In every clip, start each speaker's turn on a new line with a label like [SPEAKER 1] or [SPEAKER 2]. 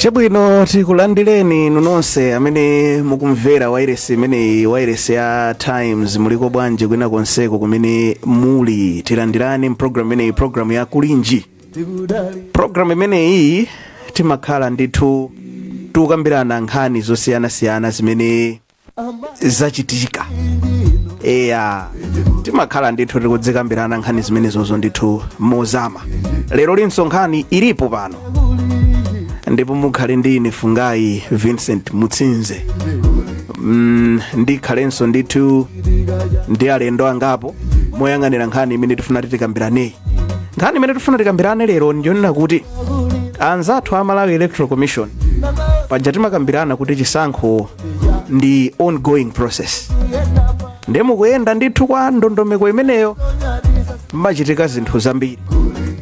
[SPEAKER 1] chabwino tikulandireni inu nonse amene mukumvera wairesi imeneyi wairesi ya times muliko bwanji kwina konseko kumene muli tilandireni mpulogalamu imeneyi pulogalamu ya kulinji pulogalamu imeneyi timakhala ndithu tikukambirana nkhani zosiyanasiyana zimene zachitika eya timakhala ndithu tikudzikambirana nkhani zimenezozo ndithu mozama lero linso nkhani ilipo pano ndipo mukhale ndi ine fungai vincent mutsinze mm, ndikhalenso ndithu ndi alendo angapo moyang'anira nkhani imene tifuna titikambiraneyi nkhani imene tifuna tikambirane lero ndiyonena kuti anzathu a malawi electoral commission paja timakambirana kuti chisankho ndi ongoing process nde mukuyenda ndithu kwa ndondomeko imeneyo mmachitika zinthu zambiri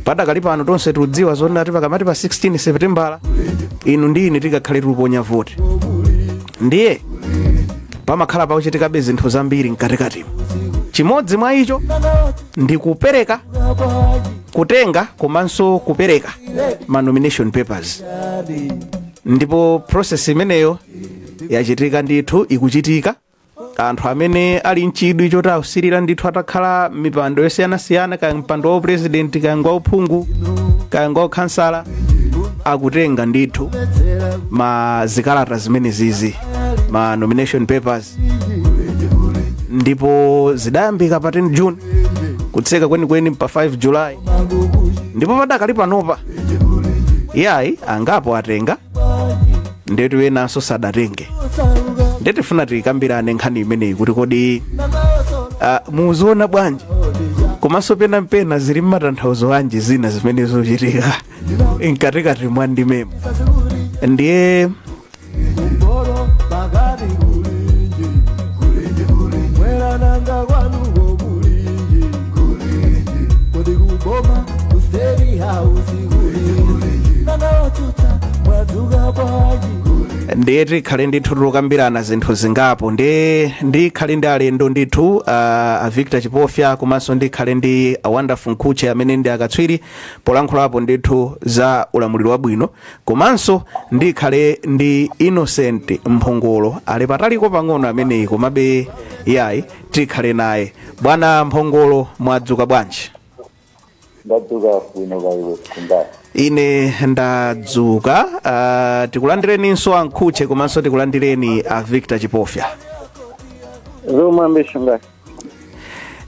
[SPEAKER 1] padakali pano tonse tikudziwa zonena kuti pakamati pa 16 septembala inu ndi ine tikakhale tikuponya voti ndiye pamakhala pakuchitikabe zinthu zambiri mkatikatimo chimodzi mwa icho ndi kupereka kutenga komanso kupereka ma nomination papers ndipo process imeneyo yachitika ndithu ikuchitika anthu amene ali mchidwi choti ausirira ndithu atakhala mipando yosiyanasiyana kaya mpando wa upresidenti kaya ngwa uphungu kaya ngwa ukhansala akutenga ndithu ma zikalata zimenezizi ma nomination papers ndipo zidayambika pa 10 june kutseka kwenikweni pa 5 july ndipo padakali panopa yayi angapo atenga ndetu enanso sadatenge nde tifuna tikambirane nkhani imeneyi kuti kodi uh, muziona bwanji komanso pena mpena zili mmatanthauzo anji zina zimene zochitika mkatikati mwandimemo ndiye Ndoro pakati kulinji kulinji kulinji Mwera nanga kwanuko kulinji kulinji Kodi kuboma ku state house kulinji Nanga otuta mwadzuka bwanji ndiye tikhale ndithu tikukambirana zinthu zingapo ndiye ndikhale ndi alendo ndithu uh, a victor chipofya komanso ndikhale ndi a wonderful mkhutche amene ndi akatswiri polankhulapo ndithu za ulamuliro wabwino komanso ndikhale ndi innocent mphongolo ali pataliko pang'ono ameneyi komabe yayi tikhale naye bwana mphongolo mwadzuka bwanji
[SPEAKER 2] ndadzuka bwino kaya iwe fungai ine
[SPEAKER 1] ndadzuka uh, tikulandireninso a mkhutche komanso tikulandireni a victor chipofya
[SPEAKER 2] zikomo kwambiri fungai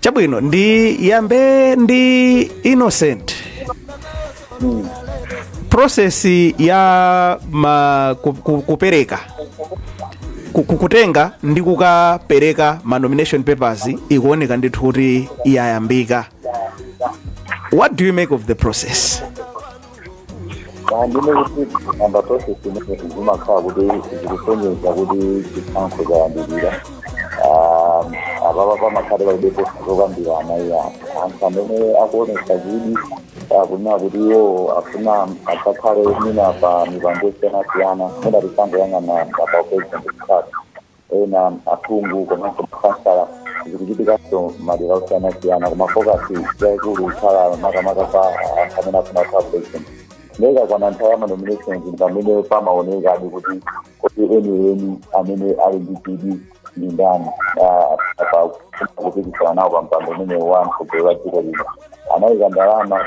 [SPEAKER 1] chabwino ndiyambe ndi innocent process ya ma, ku, ku, kupereka ku- ku- kutenga ndi kukapereka ma nomination papers ikuoneka ndithu kuti yayambika what do you make of the process
[SPEAKER 2] ndinene kuti ikayamba process imeneyi zimakhala kuti zikusonyeza kuti chisankho chayandikira Ah, apapa pamakhale palibepo zokambirana iyayi anthu amene akuonesa chidwi akunena kuti iwo afuna adzakhale mwina pa mipando yosiyanasiyana mwina tisangoyang'ana pa president kutatu ena aphungu komanso makhansala zikuchitikanso madera osiyanasiyana koma focus yaikulu ikhala makamaka pa anthu amene afuna kukhala president nde ikakwana nthawi ya manominations ndi pamene pamaonekadi kuti kodi enieni amene ali ndi chidwi ndi ndani ah, pa kupikisana nawo pa mpando umenewu wa mtsogoleri wa dziko lino anayika ndalama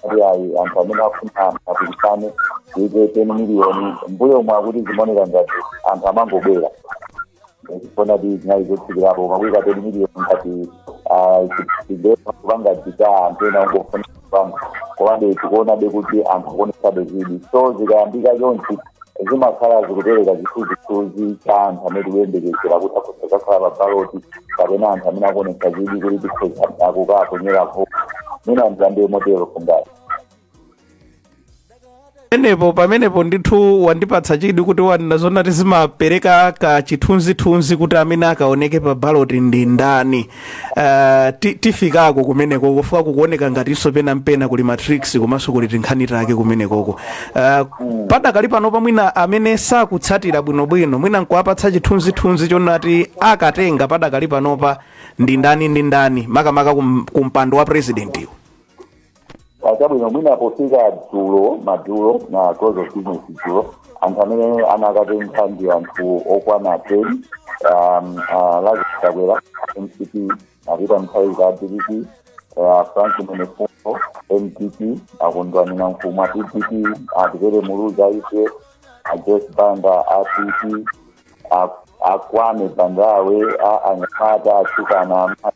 [SPEAKER 2] kuti ayi anthu amene afuna apikisane kuika ten miliyoni mbuyomu akuti zimaoneka ngati anthu amangobwera chifukwa choti zinali zotsikirapo koma kuika ten miliyoni ngati chidema kupanga deter anthu ena ongofuna kupanga komabe tikuonabe kuti anthu akuonesabe chidwi so zikayambika chonchi zimakhala zikupereka chithunzithunzi cha anthu amene tikuyembekezera kuti akhoza kukhala pa baloti kapena anthu amene akuonetsa chidwi kuti tikhoza kukaponyera voti mwina ndiyambe motero fungai
[SPEAKER 1] pamenepo pamenepo ndithu wandipatsa chidwi kuti wanena zonati zimapereka ka chithunzithunzi kuti amene akaoneke pa baloti ndi ndani Ah, ti- tifikako kumenekoko chifukwa kukuoneka ngatinso pena mpena kuli matrix komanso kuli tinkhani take kumenekoko Ah, padakali panopa mwina amene sakutsatira bwinobwino mwina nkuwapatsa chithunzithunzi chonati akatenga padakali panopa ndi ndani ndi ndani makamaka kum- kumpando wa presidentiwo
[SPEAKER 2] ah chabwino mwina pofika dzulo madzulo na close of business dzulo anthu amene anakatenga ndi anthu okwana 10 um, uh, lazarus chakwera mcp a peter mutharika dpp uh, frank mwenefumbo ndp a kondwani nankhumwa pdp atupele muluzi udf a joyce banda a pp a kwame bandawe anyamata atsikana amai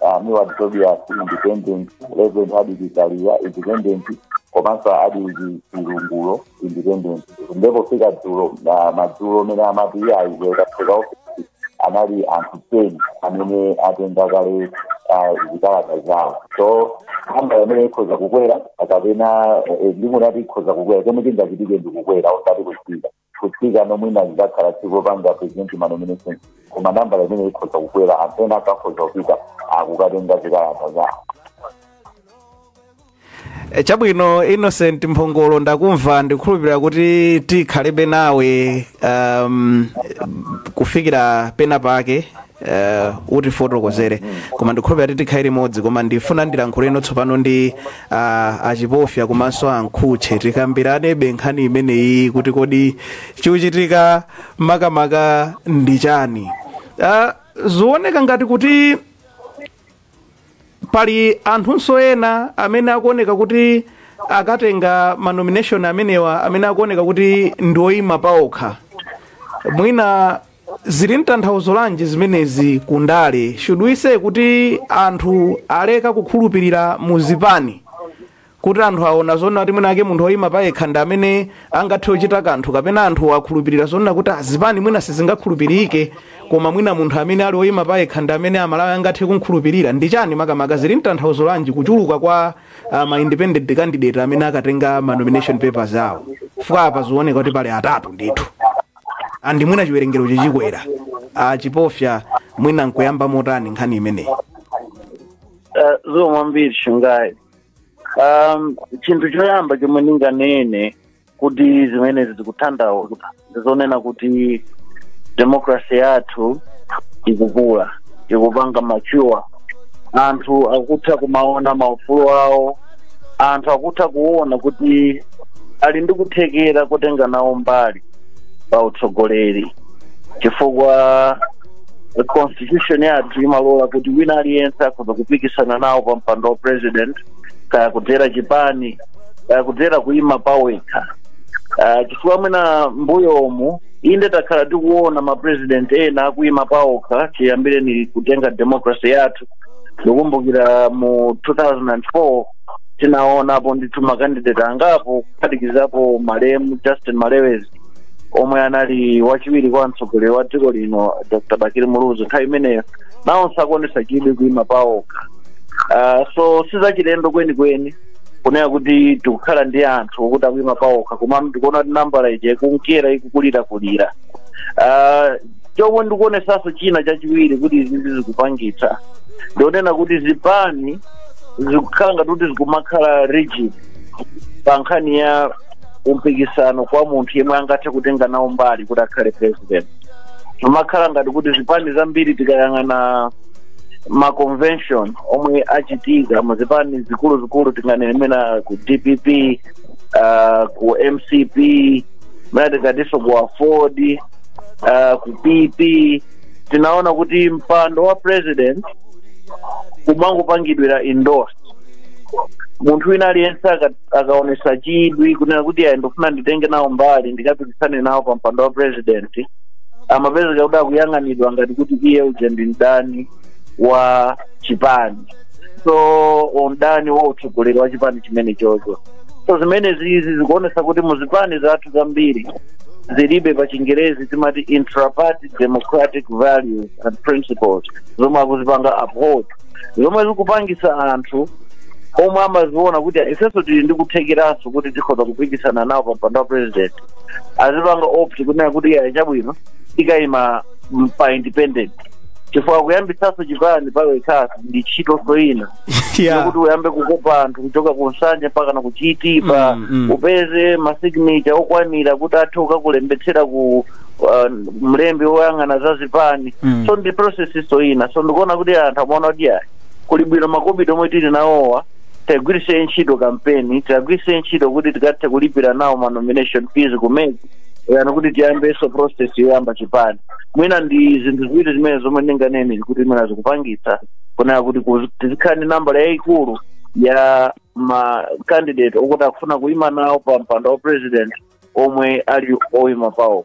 [SPEAKER 2] a milward tobias independent reverend hardwick kaliya independent komanso adil chilungulo independent nde pofika dzulo madzulo mmene amati iye ayiweka fika ofisi anali anthu ten amene atenga kale ah, zikalata zawo so namba imeneyi ikhoza kukwera kapena eh, ndikunati ikhoza kukwera chomwe chingachitike ndikukwera osati kutsika kutsika nomwe na zakhala tsiku lopanga president manomination koma ndi nambala imene ikhoza kukwera anthu ena akukhoza kupita akukatenga zikalata zawo
[SPEAKER 1] E, chabwino innocent mphongolo ndakumva ndikukhulupirira kuti tikhalebe nawe um, kufikira pena pake eh, utifotokozere koma ndikhulupira kuti tikhale limodzi koma ndifuna ndilankhule ino tsopano ndi ah, achipofya komanso a Mkhutche tikambiranebe nkhani imeneyi kuti kodi chikuchitika makamaka ndi chani Ah, zikuoneka ngati kuti pali anthunso ena amene akuoneka kuti akatenga manomination amenewa amene akuoneka kuti ndioyima paokha mwina zili mtanthauzo lanji zimenezi ku ndale should we say kuti anthu aleka kukhulupirira mu zipani kuti anthu aona zoona kuti mwina ake munthu oyima payekha ndi amene angathe kuchita kanthu kapena anthu akhulupirira zoona kuti azipani mwina sizingakhulupirike koma mwina munthu amene ali oyima payekha ndi amene amalawi angathe kumkhulupirira ndi chani makamaka zili mtanthauzo lanji kuchuluka kwa uh, ma independent candidate amene akatenga ma nomination papers awo chifukwa apa zikuoneka kuti pali atatu ndithu andi mwina chiwerengero chichikwera ah, chipofya mwina mukuyamba motani nkhani imeneyi Eh, zikomo
[SPEAKER 3] kwambiri shungayi um, chinthu choyamba chomwe ndinganene kuti zimenezi zikutanthauza ndizonena kuti demokrasi yathu ikukula ikupanga mature anthu akutha kumaona maufulu awo anthu akutha kuona kuti ali ndi kuthekera kotenga nawo mbali pa utsogoleri chifukwa constitution yathu imalola kuti wina aliyense akhoza kupikisana nawo pa mpando wa president kaya kudzera chipani kaya kudzera kuima pawekha uh, chifukwa mwina mbuyomu inde takhala tikuona mapresident ena akuima pawokha chiyambireni kutenga democracy yathu ndikumbukira mu 2004 tinaonapo ndithu makandidate angapo kuphatikizapo malemu justin malewezi omwe anali wachiwiri kwa mtsogoleri wa dziko lino dr bakili muluzi nthawi imeneyo nawonso akuonesa chidwi kuima paokha Ah, so sizachilendo kwenikweni kunena kuti tikukhala ndi anthu okuti akuima paokha komano tikuona kuti nambala ija ikunkera ikukulirakulira Ah, chomwe ndikuonesanso china chachiwiri kuti izizi zikupangitsa ndi zonena kuti zipani zikukhala ngati kuti zikumakhala rigid pa nkhani ya umpikisano kwa munthu yemwe angathe kutenga nawo mbali kuti akhale president zimakhala ngati kuti zipani zambiri tikayang'ana ma convention omwe achitika mu zipani zikuluzikulu tinganene mena ku dpp uh, ku mcp mena tingatinso ku aford uh, ku pp tinaona kuti mpando wa president umangopangidwira endorse munthu wina aliyense aka- akaonesa chidwi kunena kuti ayi ndikufuna nditenge nawo mbali ndikapikisane nawo pa mpando wa president amapezeka kuti akuyang'anidwa ngati kuti iye uje ndi mdani wa chipani so mdani wa utsogoleri wa chipani chimene chocho so zimenezi izi zikuonesa kuti mu zipani zathu zambiri zilibe pa chingerezi timati intraparty democratic values and principles zomwe akuzipanga uphold zomwe zikupangisa anthu omwe amaziona kuti ifenso tili ndi kuthekeranso kuti tikhoza kupikisana nawo pa mpando wa president azipanga opt kunena kuti iya chabwino tikayima m- pa independent chifukwa kuyambitsanso chipani pawekhaso ndi ntchitonso ina Yeah. yokuti uyambe kukopa anthu kuchoka ku Nsanje mpaka na ku Chitipa Mm, mm. upeze masignature okwanira kuti athe kukakulembetsera ku uh, mlembi woyang'ana za zipani Mm. so ndi processinso ina so ndikuona kuti anthu amaona kuti ayi kuli bwino makobidi omwe tili nawowa tiwagwiritse ntchito kampeni tiwagwiritse ntchito kuti tikathe kulipira nawo ma nomination fees kusiyana ndi kuti tiyambenso process yoyamba chipani mwina ndi zinthu ziwiri zimene zomwe ndinganene kuti mwina zikupangitsa kunena kuti kuzi- tizikhala ndi nambala yayikulu ya ma candidate okuti akufuna kuyima nawo pa mpando wa president omwe ali oima pawo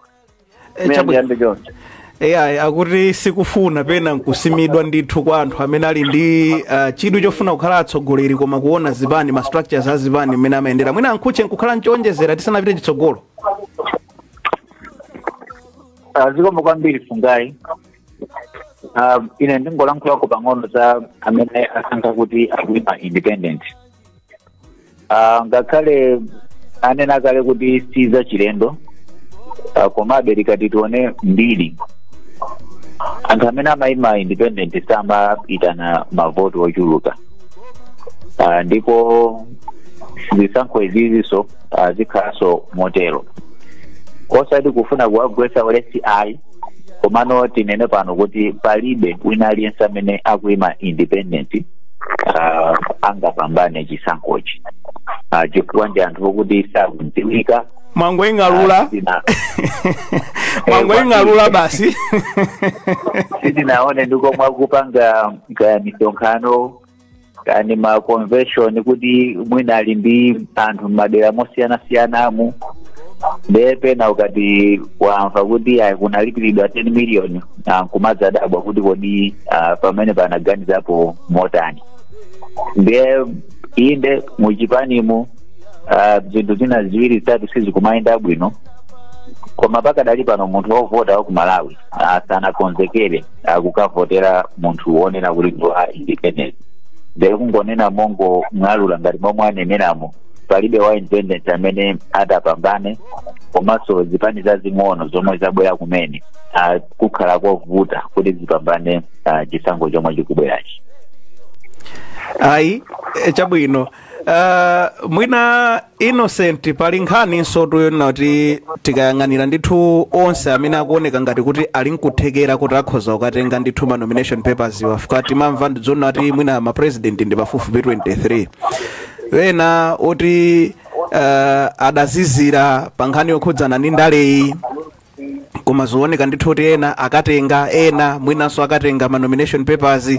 [SPEAKER 3] Eh, Mene chabwino. ndiyambe choncho eya
[SPEAKER 1] akuti sikufuna pena nkusimidwa ndithu kwa anthu amene ali ndi uh, chidwi chofuna kukhala atsogoleri koma kuona zipani ma structures a zipani mmene amayendera mwina a Nkhutche nkukhala nchoonjezera tisanapite
[SPEAKER 2] chitsogolo Ah, zikomo kwambiri Fungai Ah, ine ndingolankhulako pang'ono za amene asankha kuti akuima independent Ah, ngakhale anena kale kuti si za chilendo ah, komabe tikati tione mbiri anthu amene amayima independent samayitana mavoti ochuluka Ah, ndipo zisankho izizinso ah, zikhalanso motero osati kufuna kuwagwetsa ulesi ayi komano tinene pano kuti palibe wina aliyense amene akuima independent uh, angapambane chisankhochi uh, chifukwa ndi anthu okuti sakudziwika
[SPEAKER 1] mwangoing'alula Sina- mwangoing'alula basi sitinaone
[SPEAKER 2] ndikomwe akupanga kaya misonkhano kani ma convention kuti mwina ali ndi anthu m'madera mosiyanasiyanamu ndiye pena ukati wamva kuti ayi kunalipiridwa 10 million ah, nkumadzadabwa kuti kodi ah, pamene panaganizapo motani ndiye inde muchipanimu ah, zinthu zina ziwiri zitatu sizikumayenda bwino koma pakadali pano munthu wovota wa ku malawi ah, sanakonzekere ah, kukavotera munthu wonena kuti ndi wa independent ndee kungonena mongong'alula ngati momwe aneneramo palibe wa independent amene atapambane komanso zipani zazing'ono zomwe zabwera kumene ah, kukhala kovuta kuti zipambane ah, chisankho chomwe chikubwerachi
[SPEAKER 1] ayi eh, chabwino Uh, mwina innocent pali nkhaninsotu yonena kuti tikayang'anira ndithu onse amene akuoneka ngati kuti ali nkuthekera kuti akhoza kukatenga ndithu ma nomination paperswa afika timamva ndi zonena kuti mwina ma president ndi pafupifupi 23 wena oti uh, adazizira pa nkhani yokhudzana ndi ndaleyi koma zioneka ndithu kuti ena akatenga ena mwinanso akatenga ma nomination papers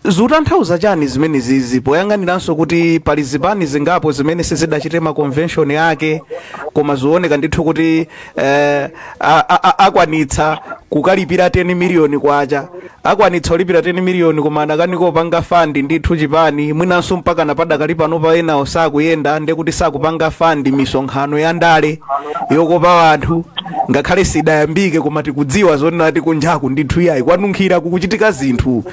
[SPEAKER 1] zikutanthauza chani zimene zizi poyang'aniranso kuti pali zipani zingapo zimene sizidachite ma convention ake koma zioneka ndithu kuti eh, a- a- a- akwanitsa kukalipira 10 miliyoni kwacha Akwanitsa kulipira 10 million koma anakanika kupanga fund ndithu chipani mwinanso mpakana padakali panopa enawo sakuyenda ndekuti sakupanga fund misonkhano ya ndale yokopa anthu ngakhale sidayambike koma tikudziwa zonena kuti kunjaku ndithu iyayi kwanunkhira kukuchitika zinthu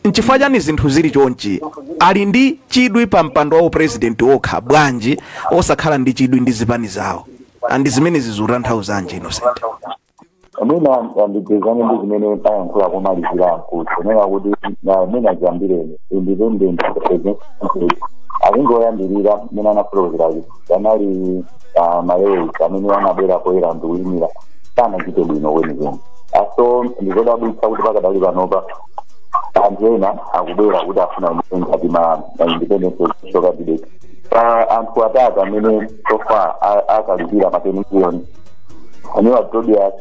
[SPEAKER 1] nchifukwa chani zinthu zili chonchi ali ndi chidwi pa mpando wa upresident okha bwanji osakhala ndi chidwi ndi zipani zawo and zimenezi zikutanthauzanji innocent
[SPEAKER 2] mwina ndipezane ndi zimene ayankhula komalizira mkuti kunena kuti mwina chiyambireni independent akungoyambirira mmene anafotokozera kuti anali malewezi amene anabwera poyera ndikuimira sanachite bwino kwenikweni so ndikodabwitsa kuti pakadali panopa anthu ena akubwera kuti afuna ngati ma independent presidential candidate anthu atatu amene so far akalipira ma 10 million a milward tobias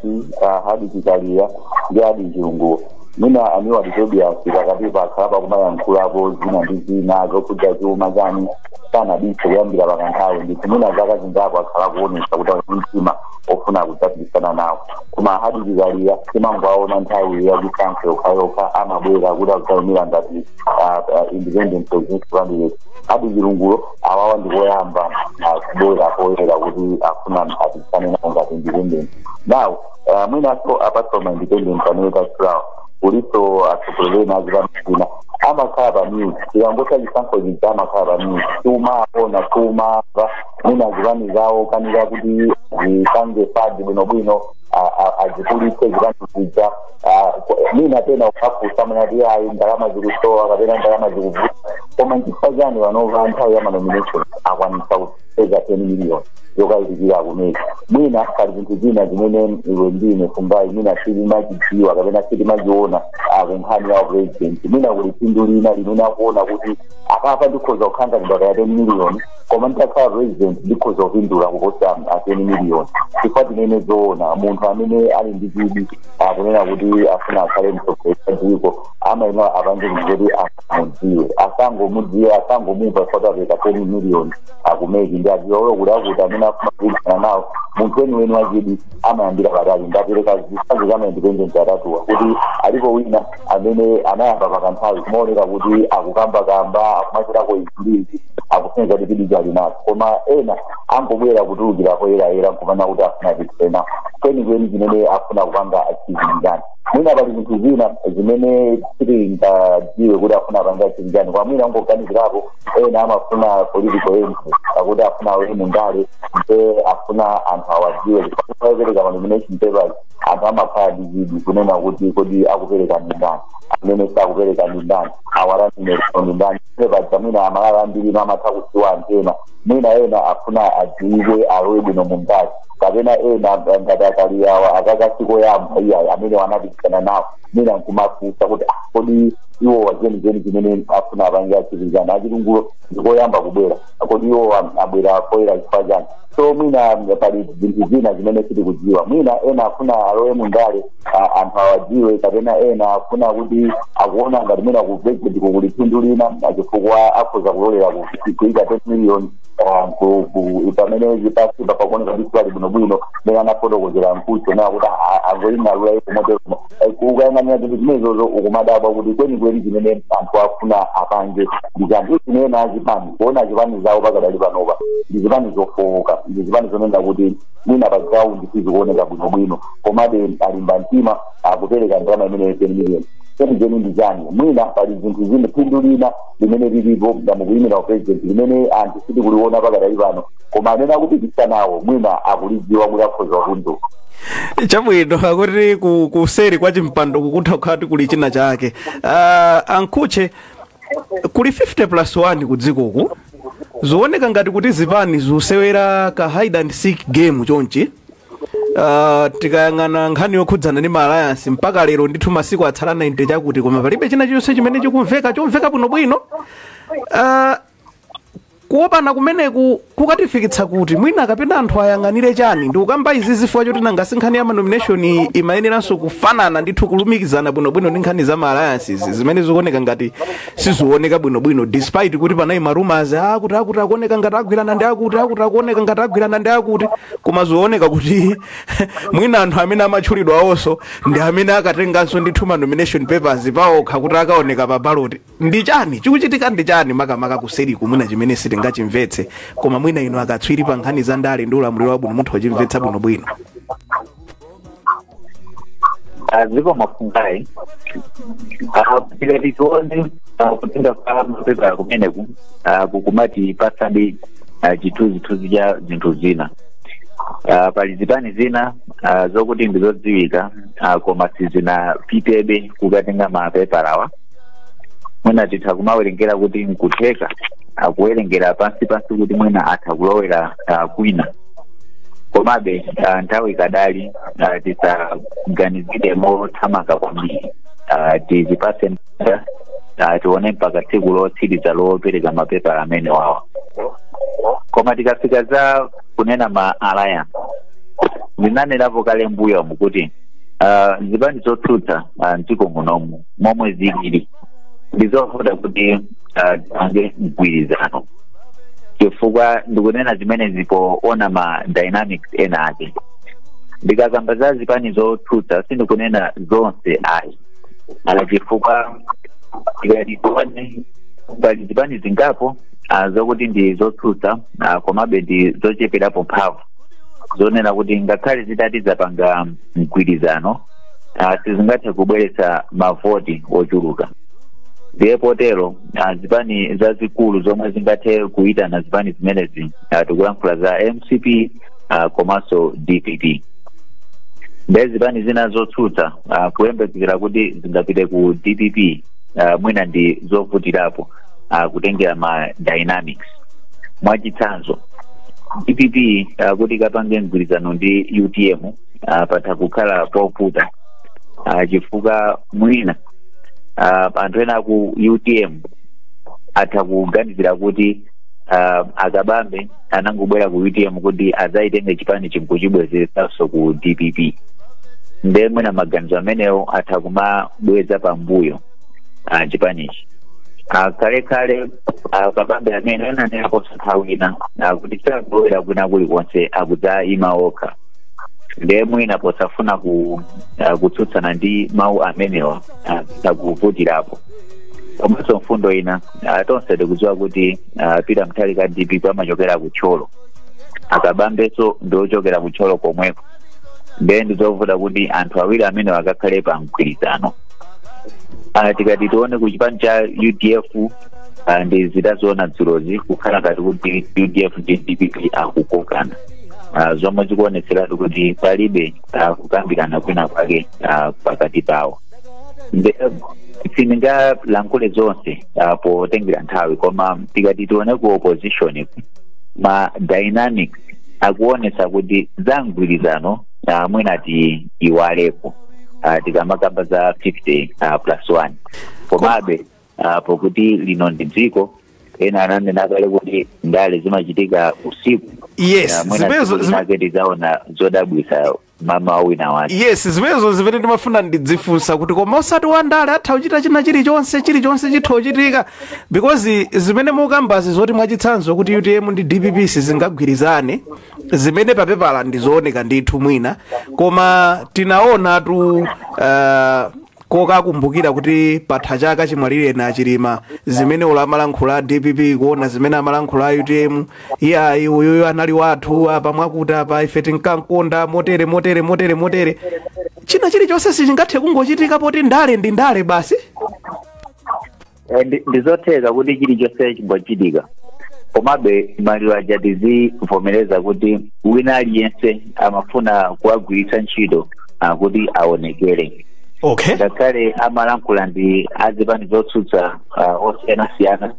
[SPEAKER 2] a hadwick kaliya ndi a adil chilungo mwina a milward tobias pakatipa akhala akumayankhulapo zina ndi zina zokhudza chuma chani sanabise kuyambira pakanthawi ndithu mwina zaka zingapo akhala kuonesa kuti ali ndi mtima ofuna kudzapikisana nawo koma a hadwick kaliya timangoaona nthawi ya chisankho yokhayokha amabwera kuti akudzaimira ngati ah, ah, independent presidential candidate a adil chilungo awawa ndikoyamba akubwera poyera kuti afuna apikisane nawo ngati independent now uh, mwinaso apart from ma independent amene tatchulawo kuliso atsogoleri ena azipani zina amakhala pa mute tikangotha chisankho chija amakhala pa mute sitimawaona sitimawamva mwina zipani zawo akanika kuti azipange fund bwinobwino a- a- azikulitse zipani zija ah, mwina pena ukafunsa amati ayi ndalama zikusowa kapena ndalama zikuvuta koma nchifukwa chani panopa nthawi ya manomination akwanisa kupeza 10 million yokayikikira kumene mwina pali zinthu zina zimene iwe ndi ine kumbayi mwina sitimazidziwa kapena sitimaziona kunkhani ya president mwina kuli phindu lina limene akuona kuti apapa ndikhoza kukhanganidwa kaya 10 million koma nditakhala president ndikhoza kupindula kuposa teni miliyoni chifukwa tinene zoona munthu amene ali ndi chidwi akunena kuti afuna akhale mtsogoleri wa dziko amayenera apange kuti kuti amudziwe asangomudziwa asangomumva kuti apereka teni miliyoni a ku MEC ndi adziwa ulo kuti akuti amene afuna kupikisana nawo munthu weniweni wachidwi amayambira patali ndapereka zitsanzo za maindependent atatuwa kuti alipo wina amene anayamba pakanthawi kumaoneka kuti akukambakamba akumachitako iziizi akusonyeza kuti chidwicho ali nacho koma ena angobwera kutulukira poyerayera nkumanena kuti afuna kupikisana kwenikweni chimene afuna kupanga achieve nchani mwina pali zinthu zina zimene sitingadziwe kuti afuna apange achieve chani koma mwina angoganizirapo ena amafuna political entry akuti afuna alowe mundale nde afuna anthu awadziwe chifukwa chopereka manomination papers anthu amakhala ndi chidwi kunena kuti kodi akupereka ndi ndani amene sakupereka ndi ndani ma running mate awo ndi ndani ine paja mwina aMalawi ambiri ino amatha kudziwa anthu ena mwina ena afuna adziwike alowe bwino mu ndale kapena ena ngati a Kaliyawa aka sikoyamba iyayi amenewa anapikisana nawo mwina nkumafunsa kuti "Ah, kodi iwowa chenicheni chimene afuna apange achieve nchani a Chilungowo ndikoyamba kubwera kodi iwowa abwera poyera chifukwa chani so mwina pali zinthu zina zimene sitikudziwa mwina ena afuna alowe mundale a- anthu awadziwe kapena ena afuna kuti akuona ngati mwina ku presidentku kuli phindu lina chifukwa akhoza kulolera ku- kuika 10 million ah, ku- ku- pamene zipasi papakuoneka kuti sali bwinobwino mene anafotokozera a Mkhutchewo kuti angoing'alula iko moteromo ukayang'anira zinthu zimenezozo ukumadabwa kuti kwenikweni zimene anthu afuna apange ndi chani zimene azipani kuona zipani zawo pakadali panopa ndi zipani zofowoka ndi zipani zonena kuti mwina pa ground sizikuoneka bwinobwino komabe alimba mtima akupereka ndalama imeneyo 10 million chenicheni ndi chani mwina pali zinthu zina phindu lina limene lilipo la mukuyimira upresident limene anthu sitikuliona pakadali pano koma amene akupikisana nawo mwina akulidziwa kuti akhoza kupindula chabwino
[SPEAKER 1] akuti ku- kuseri kwa chimpando kutha kukhala kuti kuli china chake uh, a Mkhutche kuli 50 plus 1 kudzikoku zooneka ngati kuti zipani zikusewera ka hide and seek game chonchi Uh, tikayang'ana nkhani yokhudzana ndi ma alliance mpaka lero ndithu masiku atsala 90 chakuti koma palibe china chonse chimene chikumveka chomveka bwinobwino uh, Kuopana kumeneku kukatifikitsa kuti? Mwina kapena anthu ayang'anire chani? Ndikukamba izi zifukwa choti nanga si nkhani ya ma nomination iyi imayeneranso kufanana ndithu kulumikizana bwinobwino ndi nkhani za ma alliances zimene zikuoneka ngati sizioneka bwinobwino despite kuti panali ma rumors akuti akuti akuoneka ngati agwirana ndi akuti akuti akuoneka ngati agwirana ndi akuti koma zooneka kuti mwina anthu amene amatchulidwa awonso ndi amene akatenganso ndithu ma nomination papers paokha kuti akaoneka pa ballot ndi chani chikuchitika ndi chani makamaka kuseriku mwina chimene sitingachimvetse koma mwina inu akatswiri pa nkhani za ndale ndi ulamuliro wabwino mutha kuchimvetsa bwinobwino
[SPEAKER 4] aziko mafungayi tikati tione kutenga kwa mapepala kumeneku ah, kukumatipatsadi ah, chithunzithunzi cha zinthu zina Ah, pali zipani zina ah, zokuti ndizodziwika ah, koma sizinapitebe kukatenga mapepalawa mwina titha kumawerengera kuti nkutheka akuwerengera pansi pansi kuti mwina atha kulowera ah, kwina komabe ah, nthawi ikadalipo ah, tisaganizire mothamanga kwambiri Ah, tizipase mpata ah, tione mpaka tsiku lotsiriza lopereka mapepala amenewawa koma tikafika za kunena ma alliance ndinanerapo kale mbuyomu kuti ah, zipani zotsutsa ah, mdziko munomu momwe zilili ndizovuta kuti ah, zipange mgwirizano chifukwa ndikunena zimenezi poona ma dynamics ena ake ndikakamba za zipani zotsutsa sindikunena zonse ayi ala chifukwa tikati tione pali zipani zingapo ah, zokuti ndi zotsutsa ah, komabe ndi zocheperapo mphamvu zonena kuti ngakhale zitati zapanga mgwirizano ah, sizingathe kubweretsa mavoti ochuluka ndiye potero ah, zipani zazikulu zomwe zingathe kuitana zipani zimenezi ah, tikulankhula za mcp ah, komanso dpp ndiye zipani zina zotsutsa ah, kuyembekezera kuti zingapite ku dpp ah, mwina ndi zovutirapo ah, kutengera ma dynamics mwachitsanzo dpp ah, kuti ikapange mgwirizano ndi utm ah, patha kukhala povuta ah, chifukwa mwina ah, anthu ena a ku utm atha kuganizira kuti ah, a kabambe anangobwera ku utm kuti adzayitenge chipanichi nkuchibwezeretsanso ku dpp nde mwina maganizo amenewo atha kumabweza pambuyo ah, chipanichi Ah, kale kale a kabambe amene ananenapo nthawi ina ah, kuti sakubwera kwina kulikonse akudzayima okha ndiye mwina posafuna ku, uh, kutsutsana ndi mawu amenewa uh, sakuvutirapo komanso mfundo ina uh, tonse tikudziwa kuti uh, peter mutharika dpp amachokera ku thyolo a kabambenso ndi ochokera ku thyolo komweko ndiye ndizovuta kuti anthu awiri amenewa akakhale pa mgwirizano uh, tikati tione ku chipani cha udf uh, ndi zidaziona dzulozi kukhala ngati kuti udf ndi dpp akukokana ah, zomwe zikuonetseratu kuti palibe ah, kukambirana kwina kwake ah, pakati pawo Nde- eh, sindingalankhule zonse ah, potengera nthawi koma tikati tione ku opposition ma dynamics akuonesa kuti za mgwirizano ah, mwina tiiwaleko ah, tikamakamba za 50 ah, plus 1 komabe Ah, pokuti lino ndi dziko ena ananena kale kuti ndale zimachitika usiku Yes, Ah, mwina
[SPEAKER 1] zimenezo- tsiku zime- linake
[SPEAKER 4] tidzaona zodabwitsa mmawa wina wake yes zimenezo zimene
[SPEAKER 1] ndimafuna ndidzifunsa kuti koma osati wandale atha kuchita china chilichonse chilichonse chitha kuchitika because zimene mukambazi zoti mwachitsanzo kuti utm ndi dpp sizingagwirizane zimene papepala ndizooneka ndithu mwina koma tinaonatu uh, kokakumbukira kuti patha chaka chimwalireni a chilima zimene olo amalankhula a dpp kuona zimene amalankhula a utm iyayi uyuyu anali wathu apa mwakuti apa ife tinkamkonda motere motere motere motere china chilichonse sichingathe kungochitika poti ndale ndi ndale basi Eh,
[SPEAKER 4] ndi- ndizotheka kuti chilichonse chimachitika komabe maliro aja tizivomereza kuti wina aliyense amafuna kuwagwiritsa ntchito ah, kuti aonekere okay ngakhale
[SPEAKER 1] amalankhula
[SPEAKER 4] ndi azipani zotsutsa ah, osiyanasiyana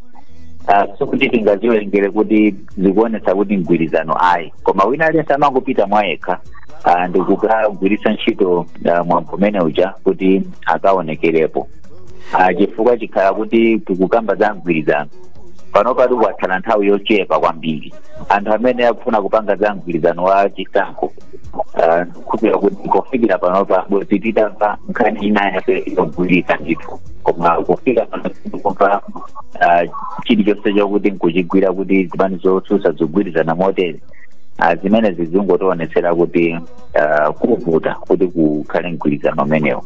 [SPEAKER 4] ah, sikuti tingaziwerengere kuti zikuonetsa kuti mgwirizano ayi koma wina aliyense amangopita mwa yekha ah, ndikukagwiritsa ntchito ah, mwambo umene uja kuti akaonekerepo Ah, chifukwa chikhala kuti tikukamba za mgwirizano panopa tikutsala nthawi yochepa kwambiri anthu amene akufuna kupanga za mgwirizano wa chisankho ah, kupira kuti kufikira panopa bwenzi titamva nkhani ina yake yogwirika ndithu koma kufika pano sitikumva ah, chilichonse chokuti nkuchigwira kuti zipani zotsutsa zigwirizana motere Ah, zimene zizingotionetsera kuti ah, kuvuta kuti kukhale mgwirizano umenewo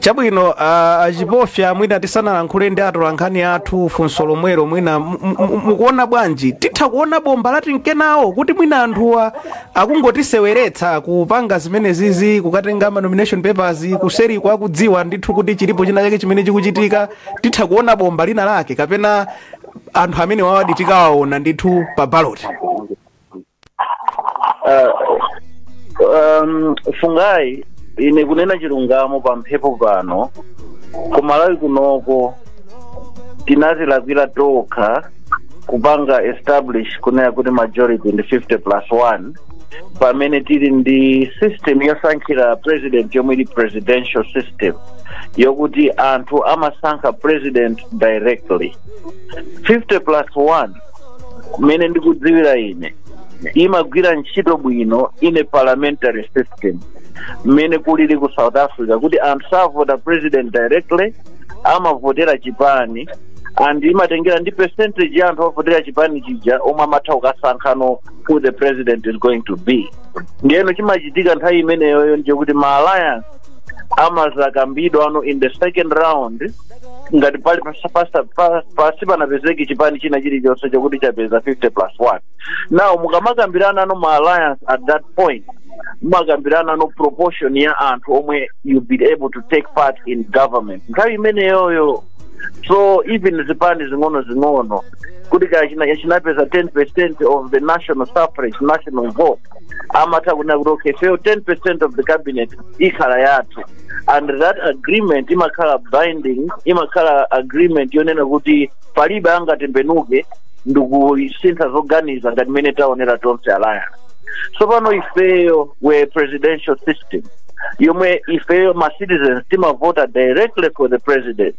[SPEAKER 4] chabwino
[SPEAKER 1] uh, achipofya mwina tisanalankhule ndi atolankhani athu funso lomwelo mwina mu- mu- mu- mukuona bwanji titha kuona bomba la time kenako kuti mwina anthuwa akungotiseweretsa kupanga zimene zizi kukatenga ma nomination papers kuseriko akudziwa ndithu kuti chilipo china chake chimene chikuchitika titha kuona bomba lina lake kapena anthu amenewawadi tikawaona ndithu pa baloti
[SPEAKER 3] Ah, um, Fungai ine kunena chilungamo pa mphepo pano ku Malawi kunoko tinazilakwira tokha kupanga establish kunena kuti majority ndi 50 plus 1 pamene tili ndi system yosankhira president yomwe ili presidential system yokuti anthu amasankha president directly 50 plus 1 mmene ndikudziwira ine imagwira ntchito bwino in a parliamentary system mmene kulili ku south africa kuti anthu savota president directly amavotera chipani and imatengera ndi percentage ya anthu ovotera chipani chija omwe amatha kukasankhano who the president is going to be ndiyeno chimachitika nthawi imeneyoyo ndiye kuti ma alliance amazakambidwano in the second round ngati pali pasa- pasa- pa- pasanapezeke chipani china chilichonse chokuti chapeza 50 plus 1 now mukamakambiranano ma alliance at that point mumakambiranano proportion ya anthu omwe you be able to take part in government nthawi imeneyoyo so even zipani zing'ono zing'ono kuti kaya china- chinapeza 10 percent of the national suffrage national vote amatha kunena kuti okay ifeyo 10% of the cabinet ikhala yathu and that agreement imakhala binding imakhala agreement yonena kuti palibe angatembenuke ndikusintha zoganiza ngati mmene taonera tonse alliance tsopano ifeyo with presidential system yomwe ifeyo ma citizens timavota directly for the president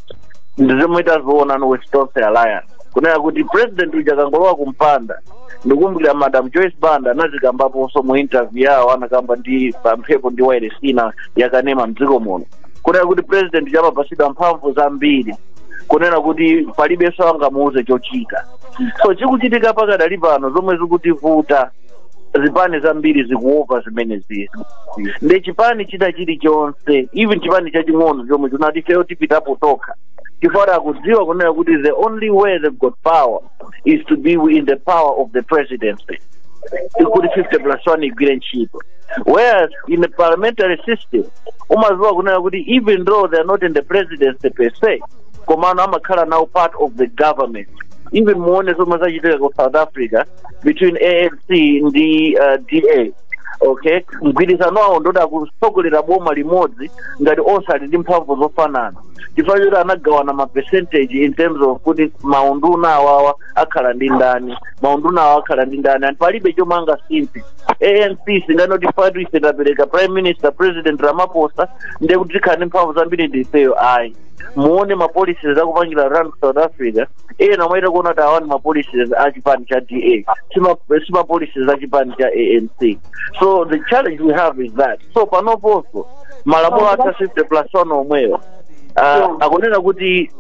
[SPEAKER 3] ndizomwe tazionano with tonse alliance kunena kuti president uja akangolowa kumpanda ndikumbukira madam joyce banda anazikambaponso mu interview yawo anakamba ndi pamphepo ndi wailesi ina yakanema mdziko muno kunena kuti president amapasidwa mphamvu zambiri kunena kuti palibenso angamuuze chochita so chikuchitika pakadali pano zomwe zikutivuta zipani zambiri zikuopa zimenezizi nde chipani china chilichonse even chipani chaching'ono chomwe chikuti ifeyo tipitapo tokha chifukwa akudziwa kunena kuti the only way they've got power is to be in the power of the presidency kuti 50 plus 1 igwire ntchito whereas in the parliamentary system umaziwa kunena kuti even though they are not in the presidency per se komano amakhala now part of the government even muone zomwe zachitika ku south africa between anc ndi uh, da okay mgwirizano wawo ndi oti akutsogolera boma limodzi ngati onse ali ndi mphamvu zofanana chifukwa choti anagawana ma percentage in terms of kuti maunduna awawa akhala ndi ndani maunduna awa akhala ndi ndani and palibe chomwe angasinthe anc singanoti pakuti ife tapereka prime minister president ramaphosa ndiye kuti tikhala ndi mphamvu zambiri ndi ifeyo ayi muone ma policies akupangira run south africa ena mwaita kuona kuti awawa ndi ma policies a chipani cha da sima policies a chipani cha anc so the challenge we have is that so panoponso malamulo athu a 50 plus one omweyo ah, akunena kuti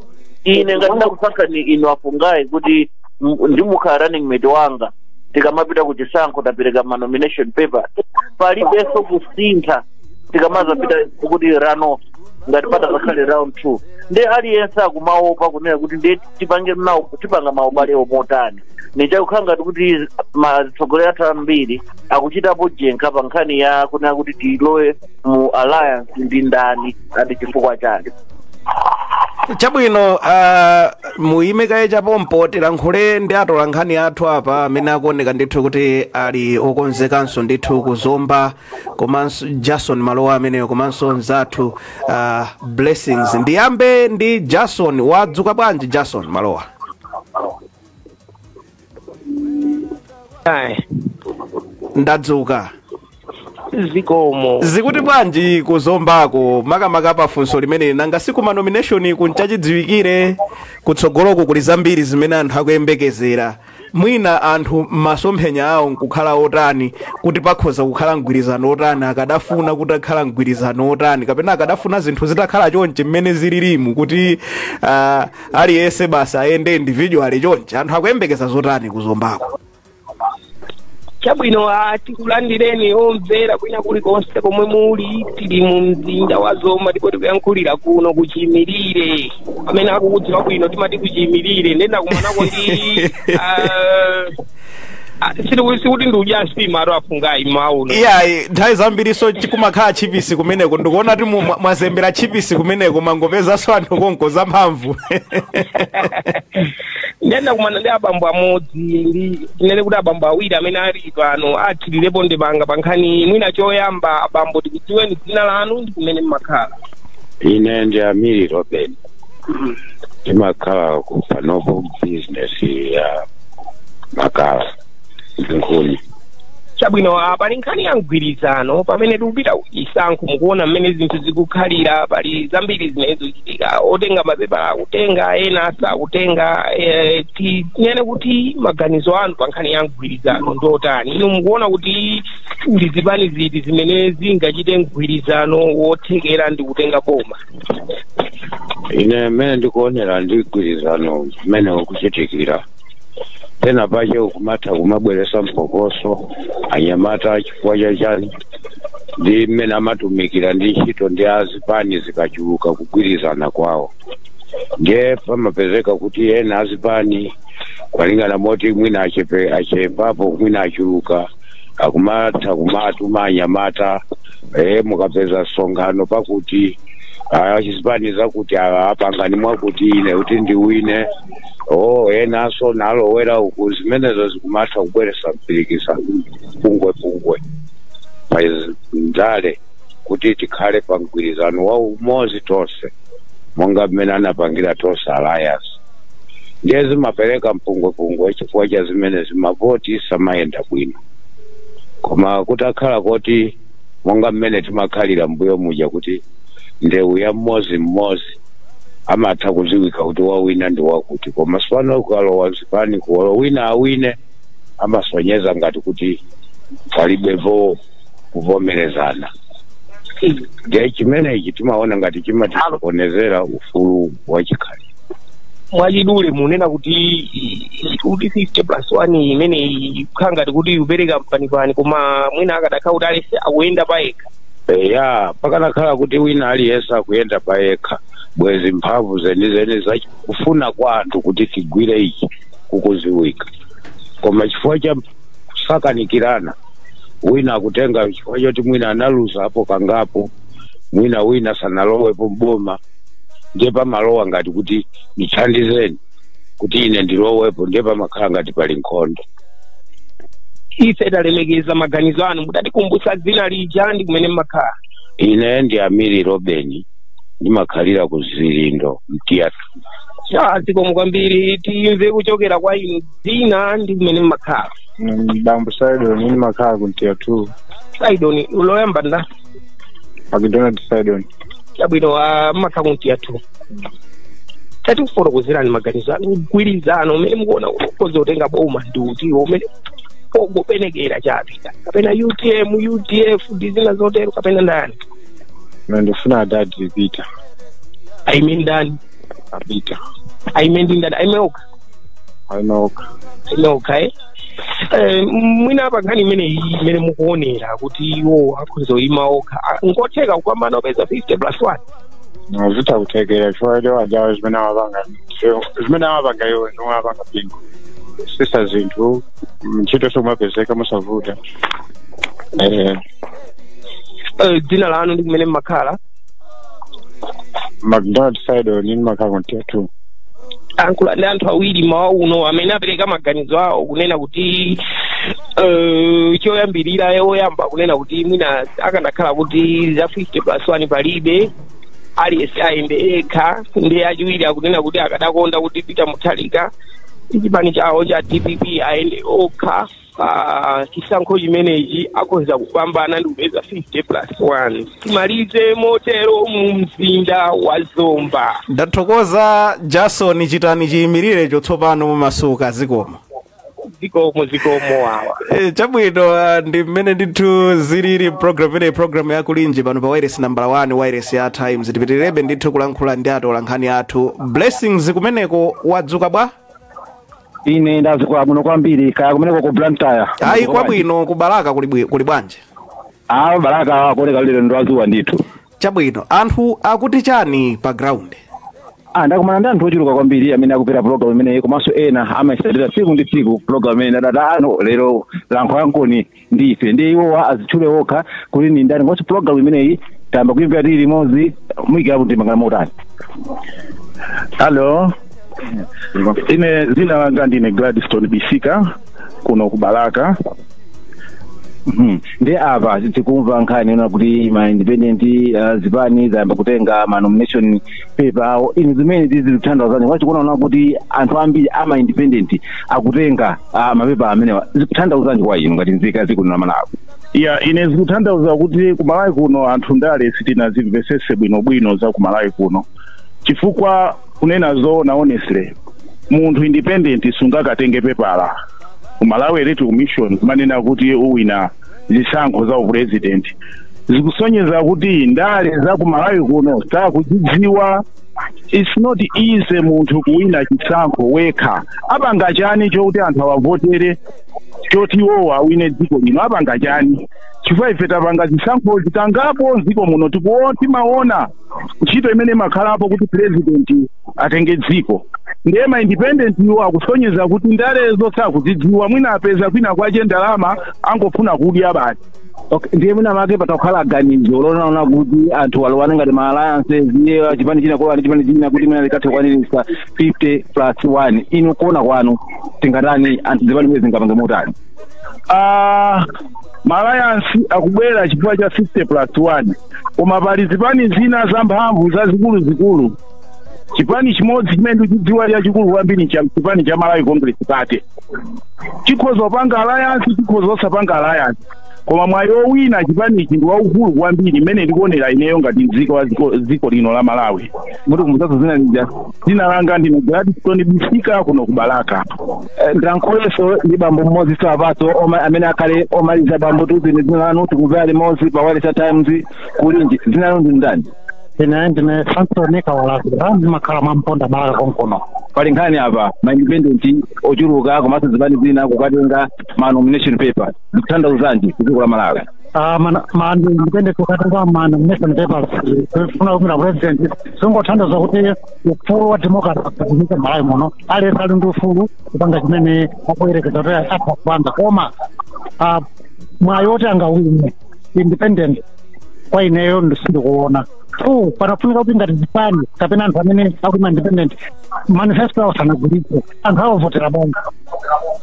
[SPEAKER 3] ine ngati ndakusankhani inu afungayi kuti m- ndimukhala running mate wanga tikamapita ku chisankho tapereka ma nomination papers palibenso kusintha tikamazapita kuti runoff ngati patadzakhale round two ndiye aliyense akumaopa kunena kuti ndiye tipange nawo tipanga maubalewo motani ndiye chikukhala ngati kuti atsogoleri athu ambiri akuchitapo njenkha pa nkhani ya kunena kuti tilowe mu alliance ndi ndani and chifukwa chake
[SPEAKER 1] chabwino uh, muyime kaye cha pompo tilankhule ndi atola nkhani athu apa amene akuoneka ndithu kuti ali okonzekanso ndithu ku zomba komanso jason malowa ameneyo komanso mzathu uh, blessings ndiyambe ndi jason wadzuka bwanji jason malowa Ayi,
[SPEAKER 5] ndadzuka zikomo zikuti bwanji
[SPEAKER 1] ku zombako makamaka pa funso limeneli nanga si ku ma nomination ku n'chachidziwikire kutsogoloko kuli zambiri zimene anthu akuyembekezera mwina anthu masomphenya awo nkukhala otani kuti pakhoza kukhala mgwirizano otani akadafuna kuti pakhale mgwirizano otani kapena akadafuna zinthu zitakhala chonche mmene zililimu kuti ah, aliyense basi ayende individually chonche anthu akuyembekeza zotani ku zombako chabwino
[SPEAKER 5] ah, tikulandireni omvera kwina kulikonse komwe muli tili mu mzinda wa zomba ndipo tikuyankhulira kuno ku chiimirire amene akukudziwa bwino timati ku chiimirire ndiye ndakumanako ndi ah, Ah, sikuti sikuti ndikudya nsimatu afungayi mmawa uno iyayi nthawi
[SPEAKER 1] zambirinso kumakhala tchipisi kumeneko ndikuona kuti mu- mwa- mwazembera tchipisi kumeneko mangopezanso anthu konko zamphamvu
[SPEAKER 5] ndiye ndakumana ndi abambo amodzi ndi tinene kuti abambo awiri amene ali pano athirirepo ndemanga pa nkhani mwina choyamba abambo tikudziweni dzina lanu ndi kumene mmakhala ine ndi
[SPEAKER 6] amiri robeni timakhala ku panopo business ya makala ndi nkhuni chabwino
[SPEAKER 5] ah, pali nkhani ya mgwirizano pamene tikupita kuchisankho mukuona mmene zinthu zikukhalira pali zambiri zimene zikuchitika otenga mapepala akutenga ena sakutenga eh, ti- tinene kuti maganizo anu pa nkhani ya mgwirizano ndi otani inu mukuona kuti ndi zipani ziti zimene zingachite mgwirizano wothekera ndi kutenga boma
[SPEAKER 6] ine mmene ndikuonera ndi mgwirizano mmene ukuchitikira pena pache ukumatha kumabweresa mpokoso anyamata chifukwa chachani ndi mmene amatumikira ndi ntchito ndi azipani zikachuluka kugwirizana kwawo ndiye pamapezeka kuti ena azipani kwalingana moti mwina achepapo mwina achuluka akumatha kumatuma anyamata eh, mukapeza msonkhano pakuti a zipani zakuti ah, apangani mwakuti ine kuti ndiwine oh enanso nalowera uku zimenezo zikumatha kubweresa mpirikisa mpungwepungwe pa ndale kuti tikhale pa mgwirizano wa umodzi tonse monga mmene anapangira tonse alliance ndiye zimapereka mpungwepungwe chifukwa cha zimenezi mavoti samayenda bwino koma kutakhala koti monga mmene timakhalira mbuyo muja kuti ndewu ya mmodzi mmodzi amatha kudziwika kuti wawina ndi wakuti komanso pano kukalowa zipaniku olo wina awine amasonyeza ngati kuti palibepo kuvomerezana ndiye chimenechi timaona ngati chimatisokonezera ufulu wa chikhalidwe
[SPEAKER 5] mwachidule munena kuti 50 plus 1 imeneyi ikukhala ngati kuti ikupereka mpanipani koma mwina akadakhala kuti aliyense akuyenda payekha ya
[SPEAKER 6] pakanakhala kuti wina aliyense akuyenda payekha bwezi mphamvu zenizeni za kufuna kwa anthu kuti tigwire ichi kukuziwika koma chifukwa cha kusakanikirana wina akutenga chifukwa choti mwina analuzapo kangapo mwina wina sanalowepo mboma ndiye pamalowa ngati kuti ndithandizeni kuti ine ndilowepo ndiye pamakhala ngati pali
[SPEAKER 5] nkhondo ife talemekeza maganizo anu mutatikumbutsa dzina lija ndi kumene mmakhala ine ndi
[SPEAKER 6] amiri robeni ndimakhalira ku zilindo mtiya two ah
[SPEAKER 5] zikomo kwambiri timve kuchokera kwa inu dzina ndi kumene mmakhala bambo
[SPEAKER 7] saidoni ndimakhala ku mtiya two saidoni
[SPEAKER 5] loyamba nda
[SPEAKER 7] Macdonald Saidon. chabwino
[SPEAKER 5] mmakhala ku Mtiya tu tatifotokozerani maganizo anu mgwirizano umene mukuona ukhoza kutenga boma ndi uti umene pongopenekera chabe kapena utm udf ndi zina zotero kapena ndani ine
[SPEAKER 7] ndifuna adadi Peter. aime
[SPEAKER 5] ndani
[SPEAKER 7] Peter. aime ndi
[SPEAKER 5] ndani aime okha ali okha okha eh? Eh, mwina apa nkhani imeneyi imene mukuonera kuti iwo akhoza kuyima okha Ah, nkutheka kupambana opeza 50 plus 1 zitha
[SPEAKER 7] kuthekera chifukwa choti ajawo zimene amapanga zimene amapanga iwo zomwe amapanga Bingu kutsitsa zinthu ntchito zikumapezeka mosavuta Eh, Eh,
[SPEAKER 5] dzina lanu ndi kumene mmakhala
[SPEAKER 7] macdonald saidoni ndimakhala ku mtiya tayankhula
[SPEAKER 5] ndi anthu awiri mawa uno amene apereka maganizo awo kunena kuti eh, choyambirira ye woyamba kunena kuti mwina akanakhala kuti za 50 plus 1 palibe aliyense ayende ekha ndiye achiwiri akunena kuti akadakonda kuti peter mutharika chipani chawo cha dpp ayende okha pa chisankho chimenechi akhoza kupambana ndi kupeza 50 plus 1 timalize motero mu mzinda wa zomba ndathokoza
[SPEAKER 1] jason chitani chiyimirire chotsopano momasuka zikomo zikomo
[SPEAKER 5] zikomo wawa Eh, chabwino
[SPEAKER 1] ah, ndi mmene ndithu zilili program imeneyi program ya kulinji pano pa wireless number 1 wireless ya times tipitirebe ndithu kulankhula ndi atolankhani athu blessings kumeneko wadzuka bwa
[SPEAKER 8] ine ndadzuka bwino kwambiri kaya kumeneko ku blantyre ayi
[SPEAKER 1] kwabwino ku balaka kuli bwi- kuli bwanji aa balaka
[SPEAKER 8] akuoneka lero ndi wazuwa ndithu chabwino anthu
[SPEAKER 1] akuti chani pa ground Ah,
[SPEAKER 8] ndakumana ndi anthu ochuluka kwambiri amene akumvera program imeneyi komanso ena amayitsatira tsiku ndi tsiku program imeneyi ndipo adati lero lankhulankoni ndi ife ndiye iwowa azitchule wokha kuti ndi ndani komanso pulogalamu imeneyi tayamba kuimvera tili limodzi muyikirapo ndemanga motani alo
[SPEAKER 7] ine dzina langa ndine gladstone bisika kuno ku balaka
[SPEAKER 8] Mhm. ndiye apa tikumva nkhani yonena kuti ma independent uh, zipani zayamba kutenga ma nomination paper awo inu zimenezi zikutanthauzanji mukakuona kuti anthu ambiri ama independent akutenga ah, mapepa amenewa zikutanthauzanji kwa inu ngati nzika ya dziko lino la malawi ya
[SPEAKER 7] ine zikutanthauza kuti ku malawi kuno anthu ndale sitinazimvetsetse bwinobwino za ku malawi kuno chifukwa kunena zoona honestly munthu independent sungakatenge pepala ku malawi electoral commission kumanena kuti uwina zisankho za upresident zikusonyeza kuti ndale za ku malawi kuno sakuzidziwa it's not easy munthu kuwina chisankho wekha apanga chani chokuti anthu awavotere choti iwowo awine dziko lino apanga chani chifukwa ife tapanga zisankho zitangapo m'dziko muno tikuona timaona ntchito imene imakhalapo kuti president atenge dziko ndiye ma independent iwo akusonyeza kuti ndalezo sakuzidziwa mwina apeza kwina kwache ndalama angofuna kudya basi Okay, ndiye
[SPEAKER 8] mwinamwake patha kukhala ganizo lonena kuti anthu alowana ngati ma alliances iye chipani china kulowa ndi chipani china kuti mwina akathe kukwaniritsa 50 plus 1 inu kuona kwanu tingatani anthu zipani zimenezi zingapange motani
[SPEAKER 7] Ah, ma alliance akubwera chifukwa cha 50 plus 1 koma pali zipani zina zamphamvu zazikulu zikulu chipani chimodzi chimene ndikuchidziwa chachikulu kwambiri cha chipani cha malawi congress party chikhoza kupanga alliance chikhoza osapanga alliance koma mwayi owina chipani ichi ndi waukulu kwambiri mmene ndikuonera ineyo ngati mzika wa dziko- dziko lino la malawi mutikumbutsenso dzina
[SPEAKER 8] lija
[SPEAKER 7] dzina langa ndine gladstone bisika kuno ku balaka Eh,
[SPEAKER 8] ndilankhulenso ndi bambo mmodzi tsopano oma- amene akhale omaliza bambo tiuzeni dzina lanu tikumvera limodzi pa wailesi ya times kulinji dzina lanu ndi ndani ine
[SPEAKER 9] ndine sansoni kawalazira ndimakhala mwa mponda balaka konkuno pali nkhani
[SPEAKER 8] apa ma independent ochuluka komanso zipani zina kukatenga ma nomination paper zikutanthauzanji kudziko la malawi Ah, ma
[SPEAKER 9] independent kukatenga ma nomination papers kufuna kuimira president zingotanthauza kuti ufulu wa democracy kudziko malawi muno aliyense ali ndi ufulu kupanga chimene akuyerekeza kuti atha kupanga koma ah, mwayi woti angawine independent kwa ineyo ndi- sindikuona two panafunika kuti ngati zipani kapena anthu amene akuyima independent manifesto awo sanagulitse anthu awavotera bwanji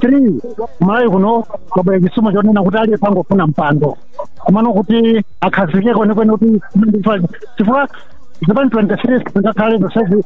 [SPEAKER 9] three malawi kuno kwabwera chisomo chonena kuti aliyense angofuna mpando komano kuti akhazikeko kwenikweni kuti chifukwa zipani 23 zingakhale zonsezi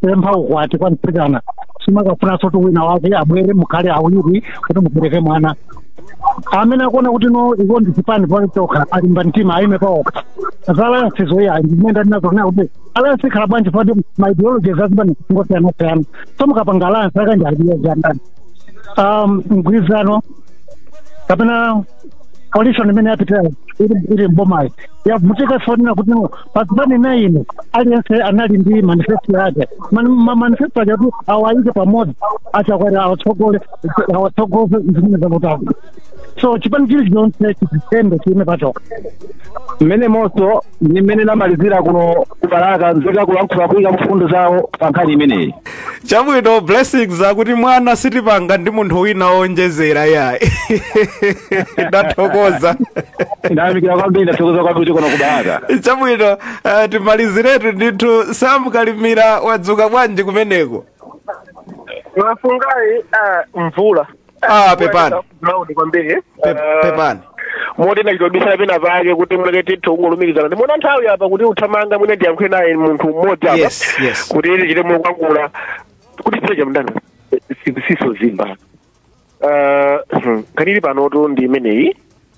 [SPEAKER 9] pempha ukwati kwa mtsikana sumakafunanso kuti wina wake abwere mukhale awiri kuti mubereke mwana amene akuona kuti no iwo ndi chipani pa chokha alimba mtima ayime pa okha za alliance zoya ndimene ndinazo nayo kuti alliance ikhala bwanji poti ma ideology za zipani ngosiyanasiyana so mukapanga alliance akanje ideology ya ndani um mgwirizano kapena coalition imene yapitayo iri iri m'bomayi yavutika sonena kuti no pa zipani nine aliyense anali ndi manifesto yake Man- ma- manifesto ache ati awayike pamodzi achakwera awatsogole awatsogoze zimene zakutali so chipani chili chonse chizitende chiime pachokha
[SPEAKER 8] mmenemonso ndi mmene ndamalizira kuno ku balaka nzika kulankhula kuyika mfundo zawo pa nkhani imeneyi
[SPEAKER 1] chabwino blessings akuti manga sitimanga ndi munthu wina woonjezera yayi ndathokoza ndayamikira
[SPEAKER 8] kwambiri ndathokoza kwambiri kuno ku Balaka chabwino
[SPEAKER 1] uh, timaliziretu ndithu sam kalimira wadzuka bwanji kumeneko mwafungayi
[SPEAKER 5] ah, mvula ah
[SPEAKER 1] pepani ground
[SPEAKER 5] kwambiri Pe- Ah,
[SPEAKER 1] pepani moti
[SPEAKER 5] ndinachita kubisala pena pake kuti mwina tithe kungolumikizana ndikuona nthawi apa kuti ikuthamanga mwina ndiyankhule naye munthu mmodzi apa Yes, yes. kuti tichite mokangula kuti pita chamdana siso zimba Ah, hmm, nkhani ili panotu ndi imeneyi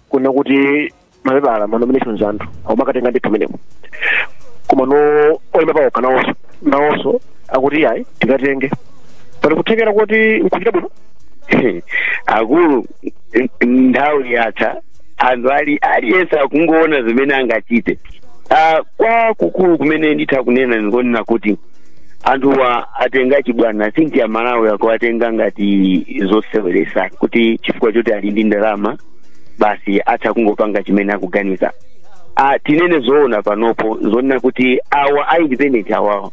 [SPEAKER 5] kunena kuti mapepala ma nominations anthu akumakatenga ndithu kumeneko komano oyima paokha nawonso nawonso akuti ayi tikatenge pali kuthekera kuti nkuchita bwino
[SPEAKER 10] akulu nthawi yatha anthu aliyense akungoona zimene angachite Ah, kwakukulu kumene nditha kunena ndi konena kuti anthuwa atenga chibwana ndithu Amalawi akuwatenga ngati zoseweresa kuti chifukwa choti ali ndi ndalama basi atha kungopanga chimene akuganiza ah, tinene zoona panopo zonena kuti awa a independent awawa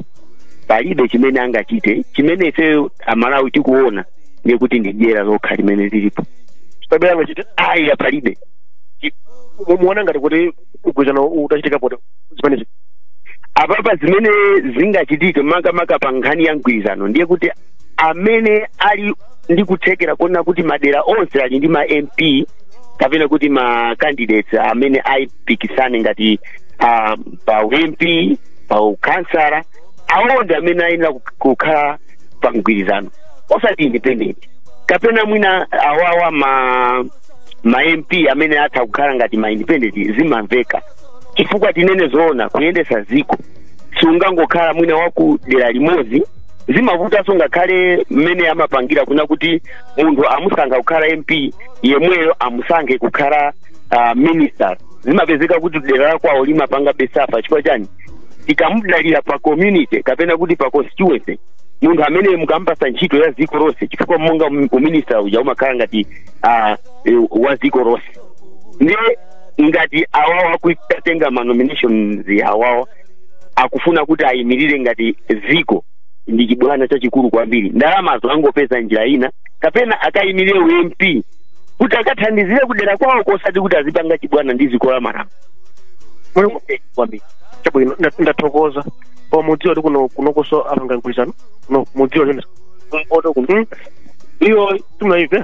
[SPEAKER 10] palibe chimene angachite chimene ifeyo amalawi tikuona ndiye kuti ndi dyera lokha limene lilipo pamene
[SPEAKER 5] angachite ayi palibe mukuona ngati kuti mgwirizano utachitika pa zimenezi apapa
[SPEAKER 10] zimene zingachitike makamaka pa nkhani ya mgwirizano ndiye kuti amene ali ndi kuthekera kuona kuti madera onse ali ndi ma mp kapena kuti ma candidates amene apikisane ngati ah, pa u mp pa ukansala awo ndi amene akuyenera kuk- kukhala pa mgwirizano osati independent kapena mwina awawa ma ma mp amene atha kukhala ngati ma independent zimamveka chifukwa tinene zoona kuyendesa ziko siungangokhala mwina wa kudera limodzi zimavutanso ngakhale mmene amapangira kunena kuti munthu amusankha kukhala mp yemweyo amusankhe kukhala uh, minister zimapezeka kuti dera la kwawo limapanga be safa chifukwa chani tikumudalira pa community kapena kuti pa constituency munthu amene mukumpasa ntchito ya ziko lonse chifukwa monga um- uminister uja umakhala ngati uh, wa ziko lonse ndiye ngati awawa akutenga manominations awawa akufuna kuti ayimirire ngati ziko ndi chibwana chachikulu kwambiri ndalamazo angopeza njira ina kapena akayimirire u mp kuti akathandizire kudera kwawo kosati kuti azipanga chibwana ndi ziko la malawi
[SPEAKER 11] Mulungu- kwambiri chabwino nda- ndathokoza koma mukudziwa kuti kuno kunokoso apanga mgwirizano kuno mukudziwa chonesa kumpoto kuno iyo timunayive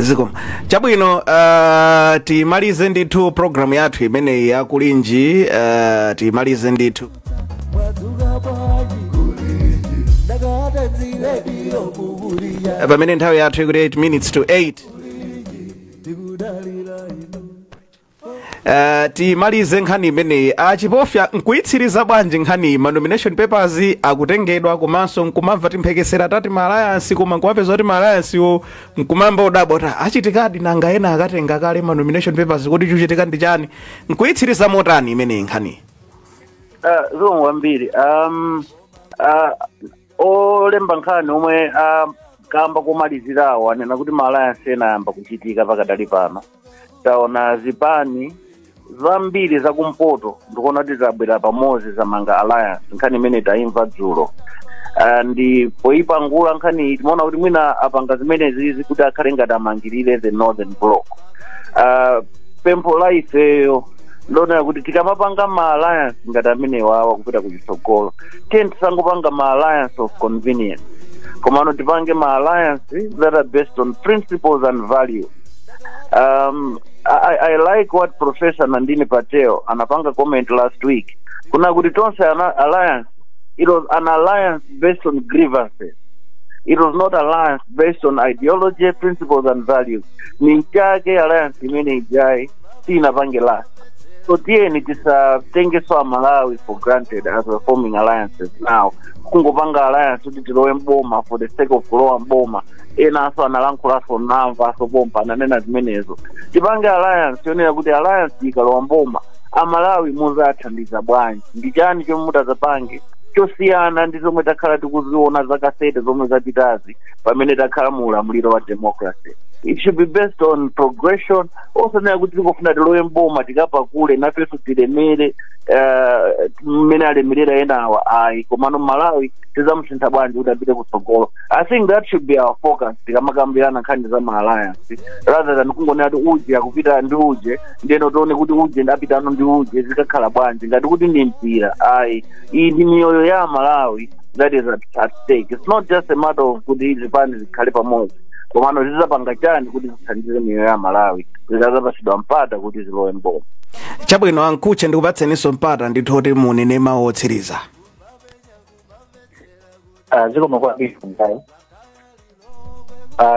[SPEAKER 1] zikomo chabwino uh, timalize ndithu programu yathu imeneyi ya kulinji uh, timalize ndithu Eh, pamene nthawi yathu ikuti 8 minutes to 8 Uh, timalize nkhani imeneyi achipofya nkuyitsiriza bwanji nkhani ma nomination papers akutengedwa komanso nkumamva timphekesera tati ma alliance koma nkumapeza kuti ma alliance wo nkumayamba kudabwa kuti achitikadi nanga ena akatenga kale ma nomination papers kodi chuchitika ndi chani nkuyitsiriza motani imeneyi nkhaniyi
[SPEAKER 3] Uh, zikomo kwambiri um, uh, olemba nkhani omwe akamba komalizirawo anena kuti ma alliance ena ayamba kuchitika pakadali pano taona zipani zambiri zakumpoto ndikuona kuti zabwera pamodzi zamanga alliance nkhani imene taimva dzulo Ah, ndi poipangula nkhani iyi timaona kuti mwina apanga zimenezizi kuti akhale ngati amangirire the northern block Ah, pempho la ifeyo ndonena kuti tikamapanga ma alliance ngati amenewawa kupita ku chitsogolo tiyeni tisangopanga ma alliance of convenience komano tipange ma alliance that are based on principles and values um, I, I like what professor nandini patel anapanga comment last week kunena kuti tonse alliance it was an alliance based on grievances it was not alliance based on ideology principles and values ni nchake alliance imene ijayi sinapange last so tiyeni tisatengeso amalawi for granted as we're forming alliances now kungopanga alliance kuti tilowe mboma for the sake of kulowa mboma enaso analankhulanso namva asopompa ananena zimenezo tipange alliance yonena kuti alliance ikalowa mboma amalawi muzathandiza bwanji ndi chani chomwe mutazapange chosiyana ndi zomwe takhala tikuziona zaka 30 zomwe zapitazi pamene takhala mu ulamuliro wa democracy it should be based on progression osanena kuti tikufuna tilowe mboma tikapakule nafenso tilemere eh, mmene alemerera enawa ayi komano malawi tizamusintha bwanji kuti apite kutsogolo i think that should be our focus tikamakambirana nkhani za ma alliance rather than kungonena kuti uje akupita ndi uje ndeno tione kuti uje ndapitano ndi uje zikakhala bwanji ngati kuti ndi mpira ayi iyi ndi miyoyo ya amalawi that is at, at stake it's not just a matter of kuti zipani zikhale pamodzi komano zizapanga chani kuti zithandize miyoyo ya amalawi zikazapasidwa mpata kuti zilowe mboma
[SPEAKER 1] chabwino a mkhutche ndikupatseninso mpata ndithu kuti munene mawu otsiriza
[SPEAKER 4] Ah, zikomo kwambiri mzayo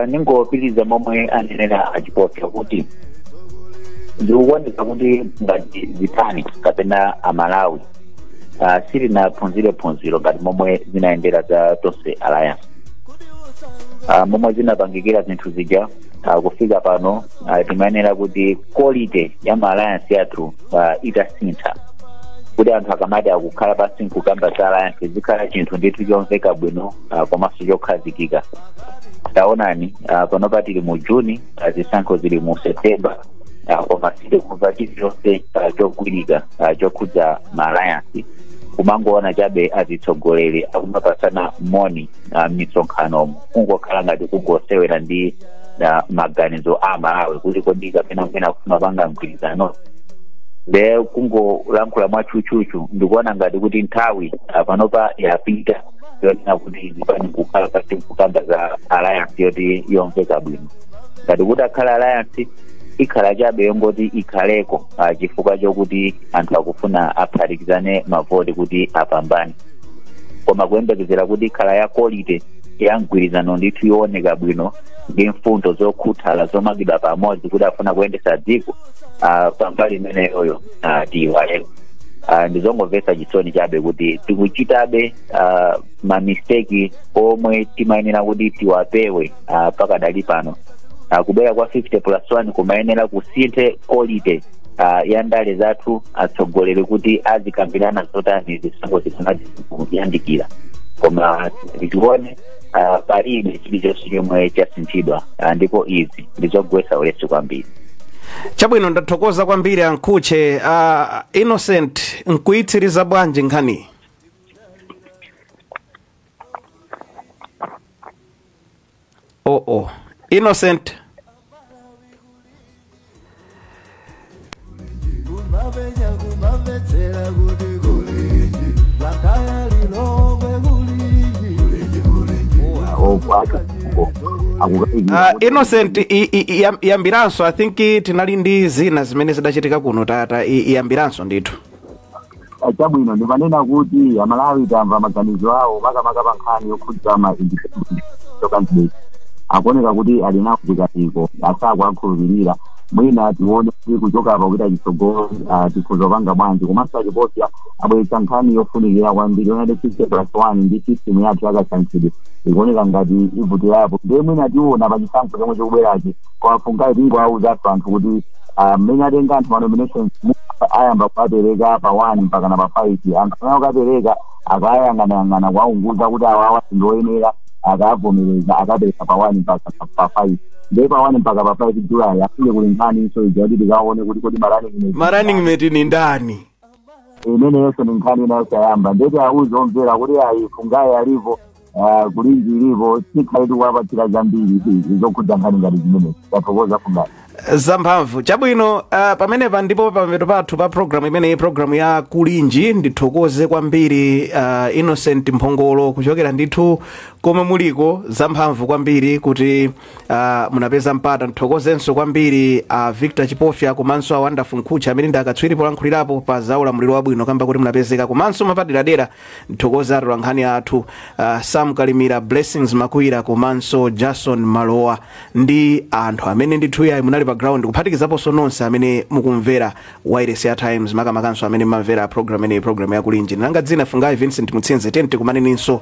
[SPEAKER 4] ningopitiriza momwe anenera achipofya kuti ndikuganiza kuti ngati zipani kapena amalawi ah, sitinaphunzire phunziro ngati momwe zinayendera za tonse alliance Ah, momwe zinapangikira zinthu zija ah, kufika pano ah, timayenera kuti quality ya ma alliance yathu ah, itasintha kuti anthu akamati akukhala pansi nkukamba za alliance zizikhala chinthu ndithu chomveka bwino ah, komanso chokhazikika taonani ah, panopa tili mu juni ah, zisankho zili mu septemba Ah, koma sitikumva chilichonse ah, chogwirika ah, chokhudza ma alliance kumangoona chabe azitsogoleri akumapasana moni ah, m'misonkhanomo kungokhala ngati kungosewera ndi ah, maganizo a malawi kuti kodi kapena mwina kumapanga mgwirizano de kungolankhula mwachuchuchu ndikuona ngati kuti nthawi ah, panopa yapita yonena kuti zipani kukhala pansi kukamba za alliance yoti yomveka bwino ngati kuti kukhala alliance ikhala chabe yongoti ikhaleko ah, chifukwa chokuti anthu akufuna aphatikizane mavoti kuti apambane koma kuyembekezera kuti ikhala ya quality ya mgwirizano ndithu yooneka bwino ndi mfundo zokhuthala zomangidwa pamodzi kuti afuna kuyendesa dziko ah, pambali imeneyoyo ah, tiyiwaleko Ah, ndizongomvetsa chisoni chabe kuti tikuchitabe ah, mamisteki omwe timayenera kuti tiwapewe ah, pakadali pano Ah, kubwera kwa 50 plus 1 kumayenera kusinthe quality ah, ya ndale zathu atsogoleri kuti azikambirana zotani zisankho zisanayandikire koma tione ah, palibe chilichonse chomwe chasinthidwa Ah, ndipo izi ndizogwesa ulesi kwambiri
[SPEAKER 1] chabwino ndathokoza kwambiri a Mkhutche uh, innocent nkuitsiriza bwanji nkhaniyi oh oh innocent kumavenya kumavetsera kuti kulinji lakaya lilongwe kulinji okwata akukaikira uh, innocent i- i- i- yam- yambiranso i think i- tinali ndi zina zimene zidachitika kuno tata i- iyambiranso ndithu
[SPEAKER 2] Ah, chabwino ndimanena kuti amalawi tamva maganizo awo makamaka pa nkhani yokhudza ma independent candidate akuoneka kuti ali nawo zikaiko asakuwakhulupirira mwina tione kuti kuchoka apa kupita chitsogolo ah, tikhoza kupanga bwanji komanso achiposa abweretsa nkhani yofunikira kwambiri yonati fifty plus one ndi system yathu yakasankhidwe ikuoneka ngati ivutirapo ndiye mwina tiona pa chisankho chomwe chikubwerachi koma mfuna tingoawuzanso anthu kuti ah, mmene atenga anthu manominations mu- ayamba kuwapereka pa 1 mpakana pa 5 anthu amene akapereka akayang'anayang'ana kuwaunguza kuti awawa ndioyenera akavomereza akapereka pa 1 mpaka pa- pa 5 ndiye pa 1 mpaka pa 5 julayi afike kuli nkhaninso ija kuti tikaone kuti kodi marani ma running mate
[SPEAKER 1] ndi ndani
[SPEAKER 2] imene yonse ndi nkhani inayo siyamba nde tiwauze omvera kuti ayi fungayi alipo ah, kulinji ilipo tikhale tikuwapatsira zambiri izi zokhudza nkhani ngati zimenezi tathokoza fungayi zamphamvu
[SPEAKER 1] chabwino uh, pamenepa ndipo pamapeto pathu pa programu imeneyi programu ya kulinji ndithokoze kwambiri uh, innocent mphongolo kuchokera ndithu komwe muliko zamphamvu kwambiri kuti Uh, munapeza mpata nthokozenso kwambiri a uh, Victor Chipofya komanso a Wonderful Mkhutche amene ndi akatswiri polankhulirapo pa za ulamuliro wabwino kamba kuti munapezeka komanso mapaderadera nthokoza atolankhani athu uh, Sam Kalimira Blessings Makwira komanso Jason Malowa ndi anthu amene ndithu yayi munali pa ground kuphatikizaponso nonse amene mukumvera wayilesi ya Times makamakanso amene mmamvera program imeneyi program ya kulinji langa dzina Fungayi Vincent Mutsinze tenti kumaneninso